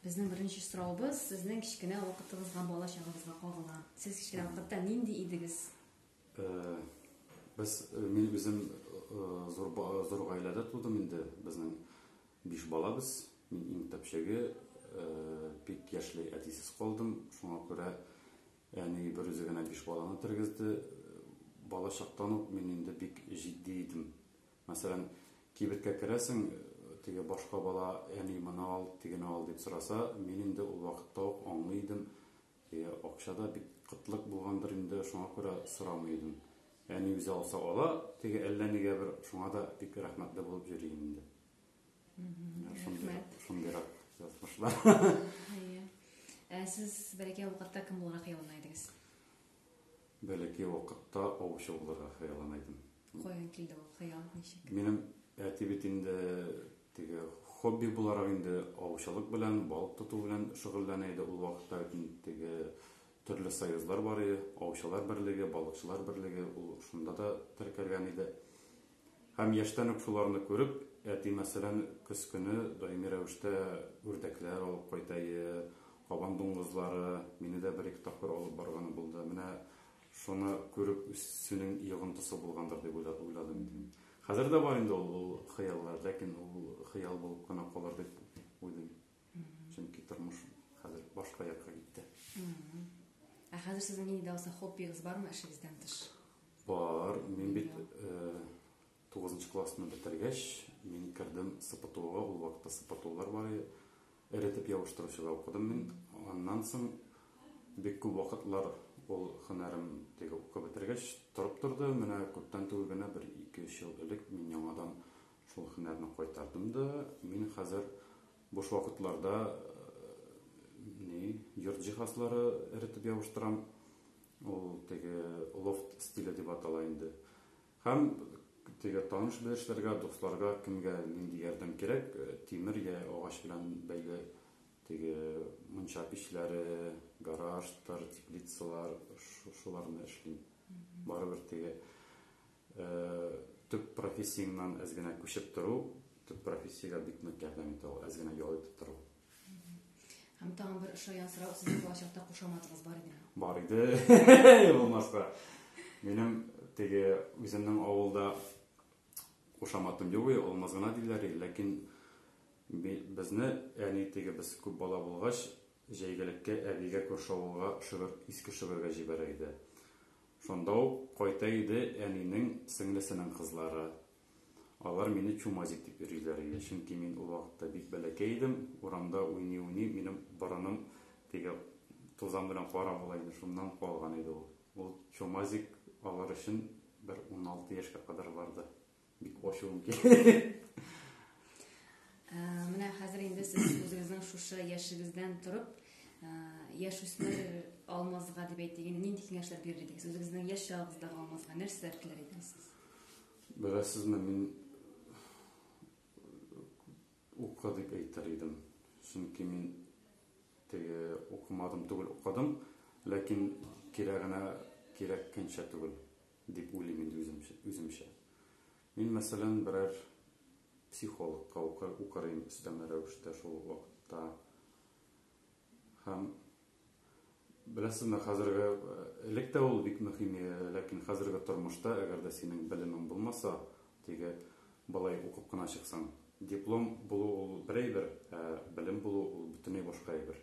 Безнең беренче сорауыбыз сезнең кечкенә вакытыгызга бала чагыгызга кагыла. Сез кечкенә вакытта нинди идегез? Э, без э, мин үзем э, зур зур гаиләдә тудым инде. Безнең биш балабыз. Мин иң тәпчәге бик яшьли әтисез калдым. Шуңа күрә әни бер үзе генә биш баланы тергезде. Бала чактан ук мин инде бик җитди идем. Мәсәлән, кибеткә керәсең, теге башка бала, әни, моны ал, тегене ал дип сораса, мин инде ул вакытта ук аңлый идем, и, акча да бит кытлык булгандыр инде, шуңа күрә сорамый идем. Әни үзе алса ала, теге әллә нигә бер, шуңа да бик рәхмәтле булып йөрим инде. Рәхмәт. Шундыйрак язмышлар. Әйе. Ә сез бәләкәй вакытта кем буларак ялына идегез? бәләкәй вакытта аучы булырга хыяллана идем. Каян килде ул хыял, ничек? Минем әти бит инде теге хобби буларак инде аучылык белән, балык тоту белән шөгыльләнә иде. Ул вакытта бит теге төрле союзлар бар иде, аучылар берлеге, балыкчылар берлеге, ул шунда да теркәлгән иде. Һәм яшьтән үк шуларны күреп, әти, мәсәлән, көз көне даими рәвештә үрдәкләр алып кайтайы, кабан дуңгызлары, мине дә бер-ике тапкыр алып барганы булды. Менә шуны күреп үсүнең йогынтысы булгандыр дип уйладым инде мин. Хәзер дә бар инде ул хыяллар, ләкин ул хыял булып кына калыр дип уйлыйм. Чөнки тормыш хәзер башка якка китте. Ә хәзер сезнең инде алса хоббигыз бармы эшегездән тыш? Бар, мин бит 9 нчы классны бетергәч, мин кердем СПТУга, ул вакытта СПТУлар бар иде. Эретеп ябыштыручыда укыдым мин. Аннан соң бик күп вакытлар ул һөнәрем теге укып бетергәч торып торды. Менә күптән түгел генә бер 2-3 ел элек мин яңадан Шул һөнәрне кайтардым да, мин хәзер буш вакытларда йорт җиһазлары эретеп ябыштырам. Ул теге лофт стиле дип атала инде. Һәм теге таныш белешләргә, дусларга кемгә нинди ярдәм кирәк, э, тимер я агач белән бәйле теге мунча пичләре, гаражтар, теплицалар, шуларны эшлим. Барыбер теге Төп профессияңнән әз генә күчеп тору, төп профессиягә бик нык ярдәм итә ул, әз генә ял итеп тору. Һәм тагын бер ошаган сорау, сезнең балачакта кушаматыгыз бар идеме? Бар иде, булмаска. Минем теге үземнең авылда кушаматым юк, алмаз гына диләр, ләкин безне әни теге без күп бала булгач, җәйгелеккә әбигә күрше авылга шөгер, иске шөгергә җибәрә иде. Шунда ук кайта иде әнинең сеңлесенең кызлары. Алар мине Чумазик дип йөриләр иде, чөнки мин ул вакытта бик бәләкәй идем, урамда уйный-уйный минем борыным теге тузан белән кара була иде, шуннан калган иде ул. Ул Чумазик алар өчен бер уналты яшькә кадәр барды. Бик ачуым килде. Менә хәзер инде сез үзегезнең шушы яшегездән торып, яшүсмер алмазга дип әйтик, инде нинди киңәшләр бирер идегез? Үзегезнең яшь чагыгыздагы алмазга нәрсәләр теләр идегез? Беләсезме, мин укы дип әйтер идем. Чөнки мин теге укымадым түгел, укыдым, ләкин кирәгенә кирәккәнчә түгел. Дип уйлыйм инде үземчә. Мин, мәсәлән, берәр психологка укыр идем өстәмә рәвештә шул вакытта. Һәм беләсезме, хәзерге элек тә ул бик мөһим, ләкин хәзерге тормышта, әгәр дә синең белемең булмаса, теге балай укып кына чыксаң, диплом булу ул бер әйбер, ә белем булу ул бөтенләй башка әйбер.